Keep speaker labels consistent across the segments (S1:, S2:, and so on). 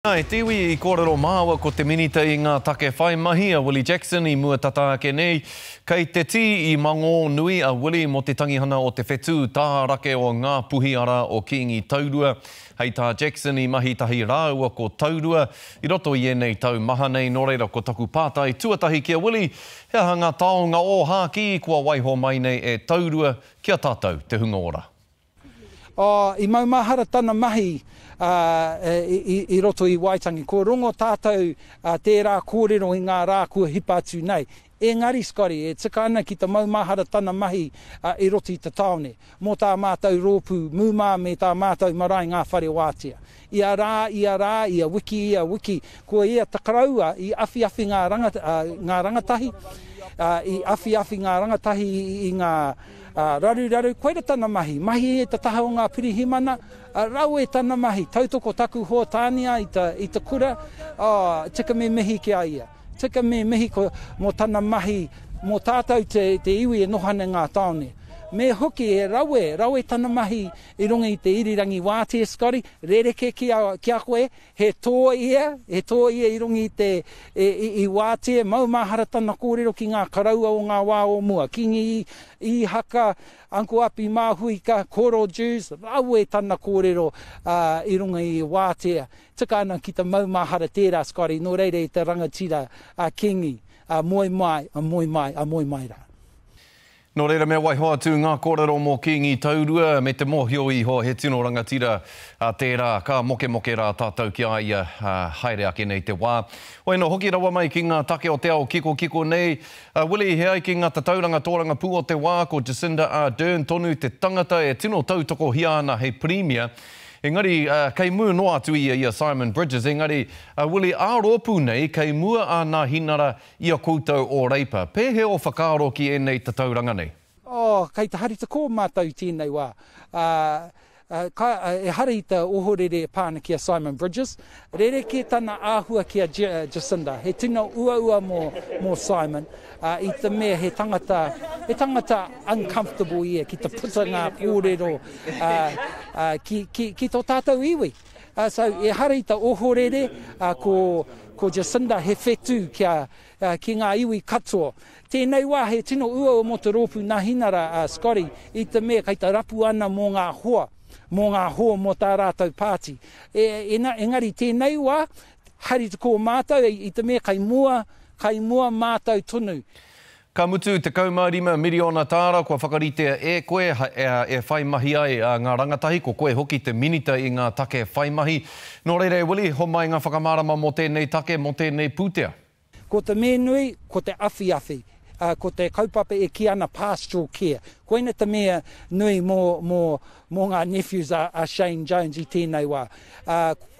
S1: E te iwi, i kōrero māua ko te Minita i ngā Take Whai Mahi a Willie Jackson i mua tata ake nei. Kei te tī i mangō nui a Willie mō te tangihana o te whetū tā rake o Ngā Puhi arā o Kīngi Taurua. Hei tā Jackson i mahi tahi rāua ko Taurua i roto i ēnei tau maha nei nō reira ko taku pātai tuatahi ki a Willie he aha ngā taonga ōhākī kua waiho mai nei e Taurua ki a tātou te hunga ora? Oh,
S2: i maumahara tana mahi uh, i roto i Waitangi. Ko rongo tātou uh, tērā kōrero i ngā rā kua hipa atu nei. Engari, Scotty, e tika ana ki ta maumahara tana mahi uh, i roto i ta taone, mō tā mātou rōpū mūmā me tā mātou marae ngā whare wātea. Ia rā, ia rā, ia wiki, ia wiki, ko ia ta karaua i awhiawhi ngā ngā rangatahi, i awhiawhi ngā rangatahi i ngā raruraru, koira tana mahi, mahi e ta taha o ngā pirihimana, rawe tana mahi, tautoko taku hōtānia i ta i ta kura, oh, tika me mihi ki a ia, tika me mihi ko mo tana mahi, mo tātou te te iwi e noho ana i ngā taone. Me hoki he rawe, rawe tana mahi I runga i te irirangi wātea, Scotty, rerekē ki a, ki a koe, he tō ia, he tō ia i runga i te, e, i, i wātea, maumahara tana kōrero ki ngā karaua o ngā wā o mua, Kingi Īhaka, Uncle Api Māhuika, Koro Dewes, rawe tana kōrero, ā, i runga i wātea. Tika ana ki te maumahara tērā, Scotty, nō reira i te rangatira, a Kingi, ā, moe mai, ā, moe mai, ā, moe mai rā.
S1: Nō reira me waiho atu ngā kōrero mō Kīngi Taurua me te mōhio iho he tino rangatira a tērā, ka mokemoke rā tātou ki a ia haere ake nei te wā. Hoi anō hoki rawa mai ki ngā take o te ao kikokiko nei, a Willie he ai ki ngā tatauranga tōrangapū o te wā, ko Jacinda Ardern tonu te tangata e tino tautokohia ana hei Pirimia, engari kei mū noa atu ia i a Simon Bridges, engari a Willie ā-rōpū nei kei mua ā Nāhinara I a koutou o Reipa, pēhea o whakaaro ki ēnei tatauranga nei? Oh, kei te
S2: haritako mātou i tēnei wā. Ahh, ehara i te ohorere e pā ana ki a Simon Bridges. Rerekē tana āhua ki a Jacinda. He tino uaua mō Simon, i te mea he tangata, he tangata uncomfortable ia ki te puta ngā kōrero ki tō tātou iwi. So, ehara i te ohorere, ko Jacinda he whetū ki ngā iwi katoa. Tēnei wā he tino uaua mō te rōpū Nahinara, Scotty, i te mea kei te rapu ana mō ngā hoa, mō ngā hoa mō tā rātou pāti. Engari tēnei wā, haere te kō mātou i te mea kei mua, kei mua mātou tonu. Ka mutu,
S1: 15 miriona tāra kua whakaritea e koe e whai mahi ai ngā rangatahi, ko koe hoki te Minita i ngā Take Whai Mahi. Nō reira e Willie, homai ngā whakamārama mō tēnei take, mō tēnei pūtea. Ko te me
S2: nui, ko te awhiawhi, ko te kaupapa e kī ana pastoral care. Koina te mea nui mō Mō ngā nephews a Shane Jones i tēnei wā.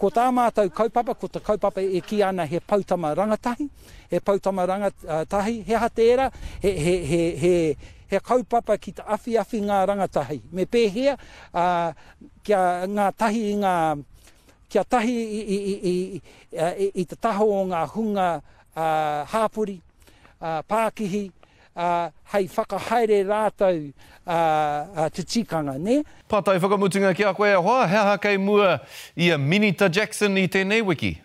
S2: Ko tā mātou kaupapa, ko te kaupapa e kī ana he poutama rangatahi, he poutama rangatahi, he aha tērā, he, he, he, he, he kaupapa ki te awhiawhi ngā rangatahi. Me pēhea, a, kia ngā tahi i ngā, kia tahi i, i, i, i, i, i te taho o ngā hunga a, hāpori, a, pākihi, ā, hei whakahaere rātou ā te tikanga, nē? Pātai whakamutunga
S1: ki a koe e hoa, he aha kei mua i a Minita Jackson i tēnei wiki?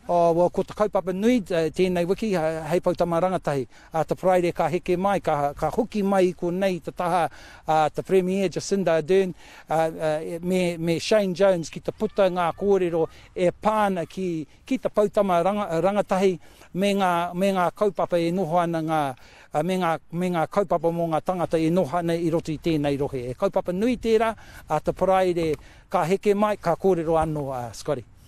S1: Oh, well, ko te
S2: kaupapa nui tēnei wiki, hei poutama rangatahi, ā, te Paraire ka heke mai, ka, ka hoki mai i konei i te taha a te Premier Jacinda Ardern, ā, ā, me, me Shane Jones ki te puta ngā kōrero e pā ana ki, ki te poutama rangatahi me ngā, me ngā kaupapa e noho ana ngā, me ngā, me ngā kaupapa mō ngā tangata e noho ana i roto i tēnei rohe. He kaupapa nui tērā, ā, te Paraire ka heke mai, ka kōrero anō a Scotty.